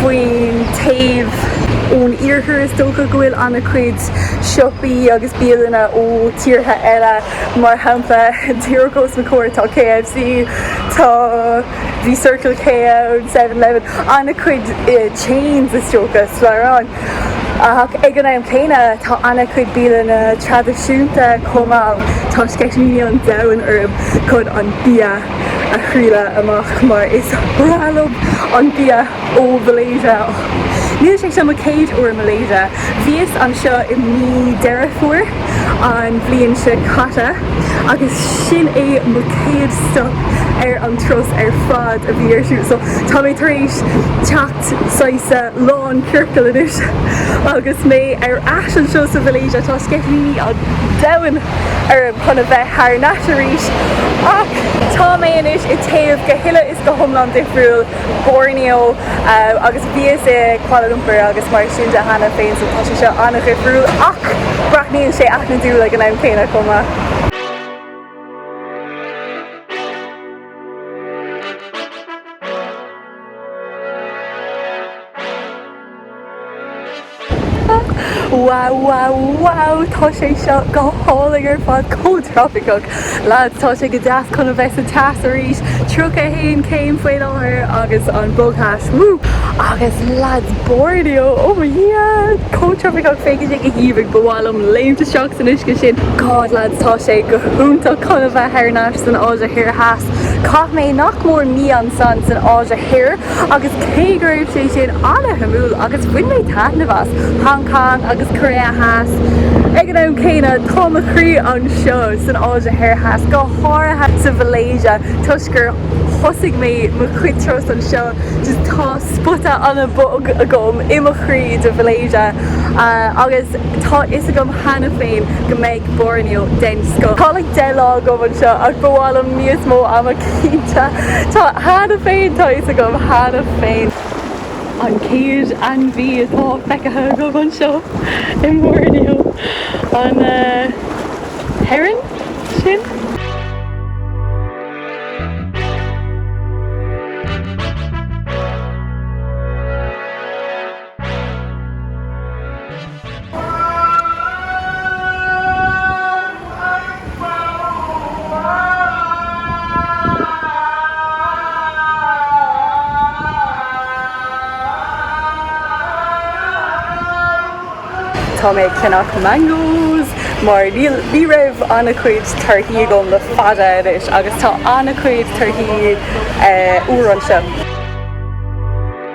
Faoin taobh ón iarthar is dócha go bhfuil an-chuid siopaí agus bialanna ó tíortha eile mar shampla díreach os mo chomhair tá KFC, tá bhí Circle K ann, Seven Eleven, an-chuid chains is dócha slabhra ach ag an am céanna tá an-chuid bialanna traidisiúnta chomh maith. Tá sceitimíní an domhain orm chun an bia a thriail amach mar is breá liom an bia ó Mhalaeisia. Níl sé seo mo chéad uair i Malaeisia, bhíos anseo i mí Deireadh Fómhair an bhliain seo caite agus sin é mo chéad stop ar an turas ar fad a bhí ar siúl so tá mé tar éis teacht saghas lán ciorcail anois agus mé ar ais anseo sa Mhalaeisia ach tá sceitimíní an domhain orm chun a bheith thar n-ais arís ach tá mé anois i taobh go huile is go hiomlán difriúil, Borneo agus bhíos i Kuala Lumpur agus mar sin de cheana féin so tá sé seo an-dhifriúil ach braithníonn sé aithnidiúil ag an am céanna chomh maith. Wow wow wow tá sé seo go hálainn ar fad chomh tropiceach. Lads tá sé go deas chun a bheith sa teas arís, 31 céim faoi láthair agus an bogthais woo agus lads Borneo oh my dhia chomh tropiceach féachann sé go haoibhinn ba mhaith liom léimt isteach san uisce sin. God lads tá sé go hiontach chun a bheith thar n-ais san Áise Thoir Theas. Chaith mé nach mór mí ansin san Áise Thoir agus cé go raibh sé sin ana-shuimiúil agus bhain mé taitneamh as, Hong Kong agus Korea Theas, ag an am céanna tá mo chroí anseo san Áise Thoir Theas, go háirithe sa Mhalaeisia toisc gur thosaigh mé mo chuid turas anseo just tá spota ana-bhog agam i mo chroí don Mhalaeisia agus tá fhios agam cheana féin go mbeidh Borneo den scoth. Tá like deich lá agam anseo ach ba mhaith liom níos mó ama cinnte. Tá cheana féin, tá fhios agam cheana féin. An chéad ainmhí atá feicthe agam anseo i mBorneo an heron sin. Tá mé ag ceannach mangoes mar níl, ní raibh an-chuid torthaí agam le fada anois agus tá an-chuid torthaí úr anseo.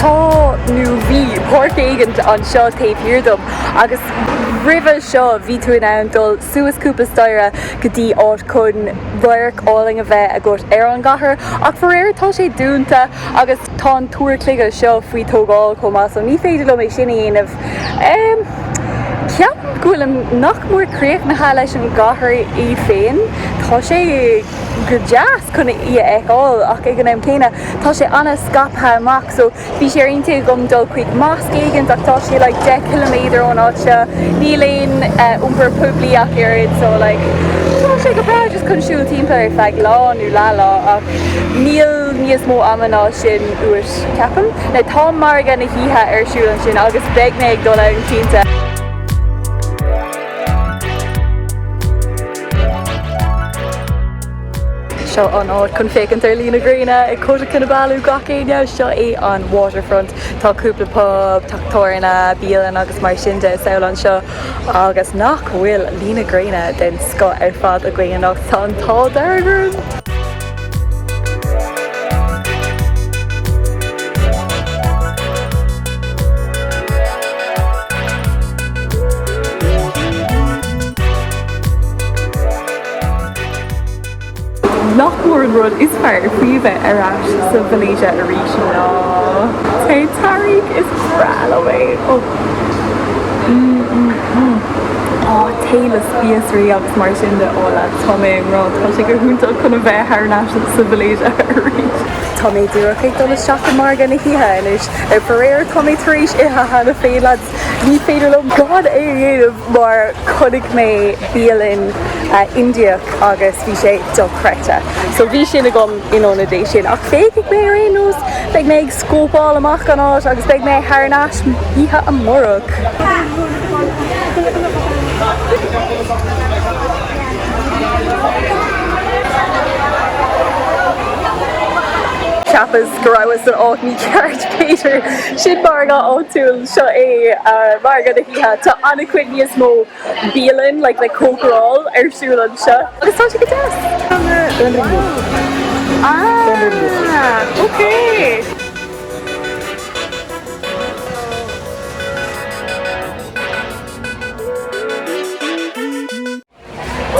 Tá, nó bhí, páirc éigin anseo taobh thiar dom agus roimhe seo bhí tú in ann dul suas cúpla staire go dtí áit chun radharc álainn a bheith agat ar an gcathair ach faraor tá sé dúnta agus tá an túr cloiche seo faoi tógáil chomh maith so ní féidir liom é sin a dhéanamh. Ceapaim go bhfuilim nach mór críochnaithe leis an gcathair í féin. Tá sé. go deas chun í a fheiceáil ach ag an am céanna tá sé an-scaipthe amach so bhí sé ar intinn agam dul chuig mosque éigin ach tá sé like deich ciliméadar ón áit seo, níl aon iompar poiblí ach oiread so like tá sé go breá just chun siúl timpeall ar feadh lá nó leathlá ach níl níos mó ama ná sin uait ceapaim. Now tá margadh na hoíche ar siúl ansin agus beidh mé ag dul ann cinnte. Seo an áit chun féachaint ar luí na gréine ag Kota Kinabalu gach éinne. Seo é an waterfront. Tá cúpla pub, teach tábhairne, bialann agus mar sin de ar siúl anseo. Agus nach bhfuil luí na gréine den scoth ar fad againn anocht. Tá an t-ádh dearg orm! Nach mór an rud is fearr faoi a bheith ar ais sa Mhalaeisia arís ná tae tarraingthe is breá liom é. tae le spíosraí agus mar sin de. Ó lads tá mé ag rá, tá sé go hiontach chun a bheith thar n-ais sa Mhalaeisia arís. Tá mé díreach ag dul isteach i margadh na hoíche anois. Ach faraor tá mé tar éis ithe cheana féin agus níorbh fhéidir liom gan é a dhéanamh mar chonaic mé bialann Indiach agus bhí sé dochreidte. So bhí sin agam in ionad é sin ach féachfaidh mé ar aon nós, beidh mé ag Scópáil amach an áit agus beidh mé thar n-ais oíche amárach. Cheapas go rabhas san áit mícheart Peter. Sin margadh áitiúil. Seo é margadh na hoíche. Tá an-chuid níos mó. bialann le cócaráil ar siúl anseo agus tá sé go deas. Tá na Fionraí liom. Ah ok.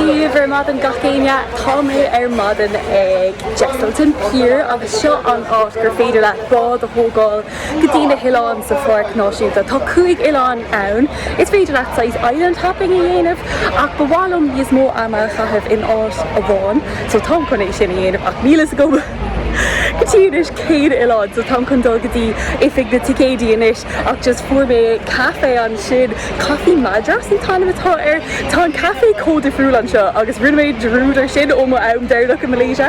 Dia daoibh ar maidin gach éinne tá mé ar maidin ag Jesselton Pier agus seo an áit gur féidir leat bád a thógáil go dtí na hoileáin sa Pháirc Náisiúnta. Tá cúig oileán ann. Is féidir leat saghas island hopping a dhéanamh ach ba mhaith liom níos mó ama a chaitheamh in áit amháin so táim chun é sin a dhéanamh ach níl a fhios agam go dtí anois cén oileán so táim chun dul go dtí oifig na ticéidí anois ach just fuair mé caife ansin, Coffee Madras an t-ainm atá air. Tá an caife chomh difriúil anseo agus rinne mé dearúd ar sin óm am deireanach i Malaysia.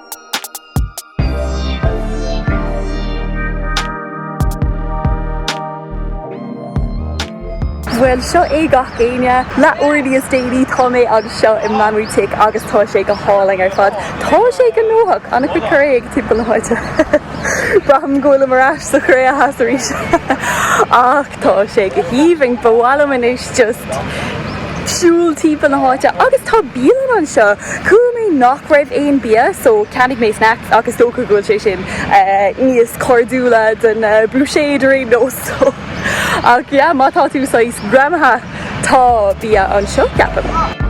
Bhuel, seo é gach éinne. Leathuair níos déanaí tá mé anseo i Mamutik agus tá sé go hálainn ar fad. Tá sé gnóthach, an-chuid Koreans timpeall na háite. Braithim go bhfuilim ar ais sa Chóiré Theas arís ach. Tá sé go haoibhinn, ba mhaith liom anois just siúl timpeall na háite agus tá bialann anseo. Chuala mé nach raibh aon bia so ceannaigh mé snacks ach is dócha go bhfuil sé sin níos cairdiúla don bhuiséad ar aon nós so ach yeah má tá tú saghas greamaithe tá bia anseo ceapaim.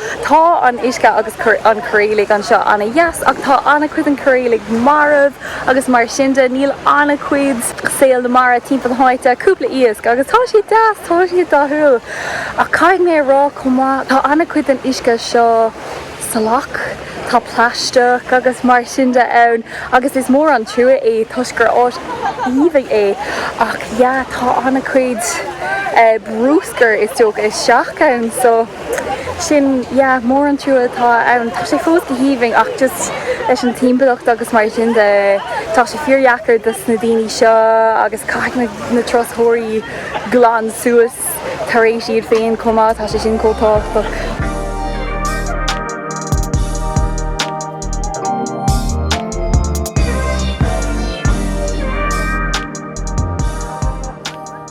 Tá an uisce agus an coiréalach anseo ana dheas ach tá ana chuid den choiréalach marbh agus mar sin de níl ana chuid saol na mara timpeall na háite, cúpla iasc agus tá siad deas, tá siad dathúil ach caithfidh mé a rá chomh maith tá ana chuid den uisce seo salach, tá plaisteach agus mar sin de ann agus is mór an trua é toisc gur áit aoibhinn é ach yeah tá ana chuid brúscar is dócha isteach ann so. Sin, yeah, is mór an trua atá ann. Tá sé fós go haoibhinn ach just leis an timpeallacht agus mar sin de tá sé fíordheacair dos na daoine seo agus caithfidh na turasóirí glan suas tar éis iad féin chomh maith, tá sé sin chomh tábhachtach.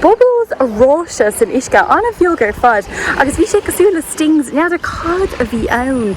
bubbles aráiste san uisce, an-bheag ar fad agus bhí sé cosúil le stings, n'fheadar cad a bhí ann.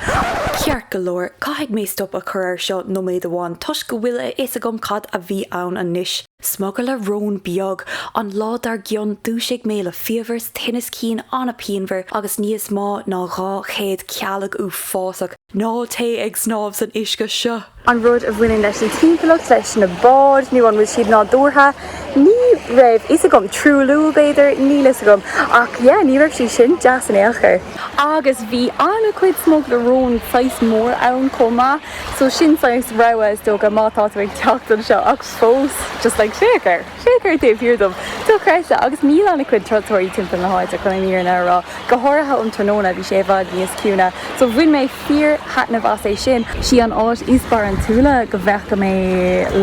Ceart go leor, caithfidh mé stop a chur air seo nóiméad amháin toisc go bhfuil a fhios agam cad a bhí ann anois. Smugairle róin beag! An lá dár gcionn dhúisigh mé le fiabhras, tinneas cinn an-pianmhar agus níos mó ná 200 cealg uafásach. Ná téigh ag snámh san uisce seo. Aon rud a bhaineann leis an timpeallacht, leis na báid, nó an bhfuil siad nádúrtha, ní raibh fhios agam. Truailliú, b'fhéidir? Níl fhios agam. Ach yeah, ní raibh sé sin deas in aon chor. Agus bhí an-chuid smugairle róin, saghas mór, ann chomh maith. So sin saghas rabhadh, is dócha, má tá tú ag teacht anseo. Ach fós, just like, féach air! Féach air taobh thiar dom. Dochreidte! Agus níl ana-chuid turasóirí timpeall na háite chun an fhírinne a rá. Go háirithe um tráthnóna bhí sé i bhfad níos ciúine. So bhain mé fíor thaitneamh as é sin. Sí an áit is barantúla go bhfeaca mé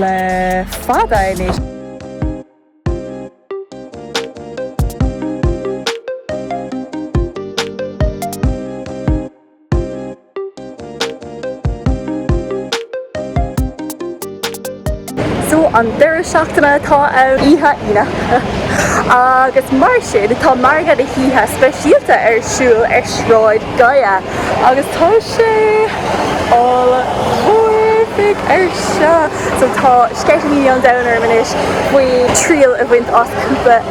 le fada anois. So an deireadh seachtaine atá ann oíche Aoine agus mar sin tá margadh na hoíche speisialta ar siúl ar Shráid Gaya agus tá sé all horrific ar seo. So tá sceitimíní an domhain orm anois faoi thriail a bhaint as cúpla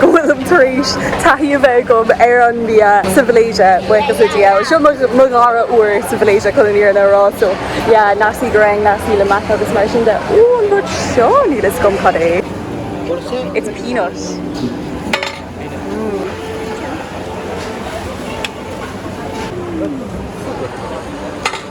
go bhfuilim tar éis taithí a bheith agam ar an mbia sa Mhalaeisia, buíochas le Dia. Seo mo dhara uair sa Mhalaeisia chun an fhírinne a rá, so yeah, nasi goreng, nasi lemak agus mar sin de. Ú, an rud seo, níl fhios agam cad é. It's peanut.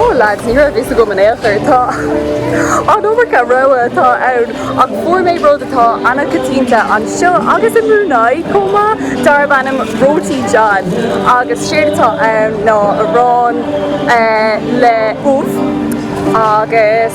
Ó lads, ní raibh a fhios agam in aon chor. Tá an iomarca rogha atá ann ach fuair mé rud atá an-choitianta anseo agus i mBrunei chomh maith darb ainm Roti John agus séard atá ann ná arán le ubh agus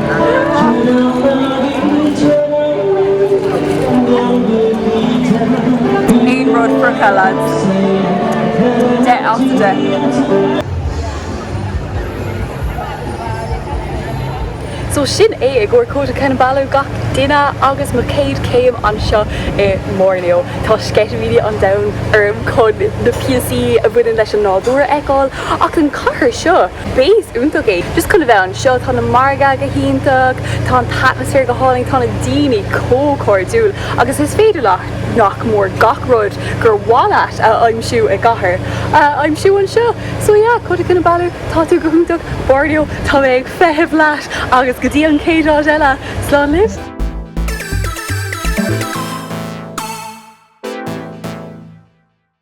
Aon rud friochta lads. Deich as deich. So sin é i gcomhair Kota Kinabalu gach duine agus mo chéad chéim anseo i mBorneo. Tá sceitimíní an domhain orm chun na píosaí a bhaineann leis an nádúr a fheiceáil ach an chathair seo. Base iontach é just chun a bheith anseo, tá na margaidh go hiontach, tá an t-atmaisféar go hálainn, tá na daoine chomh cairdiúil agus is féidir leat nach mór gach rud gur mhaith leat a aimsiú i gcathair, a aimsiú anseo. So yeah, Kota Kinabalu, tá tú go hiontach, Borneo, tá mé ag feitheamh leat agus go dtí an chéad áit eile, slán libh!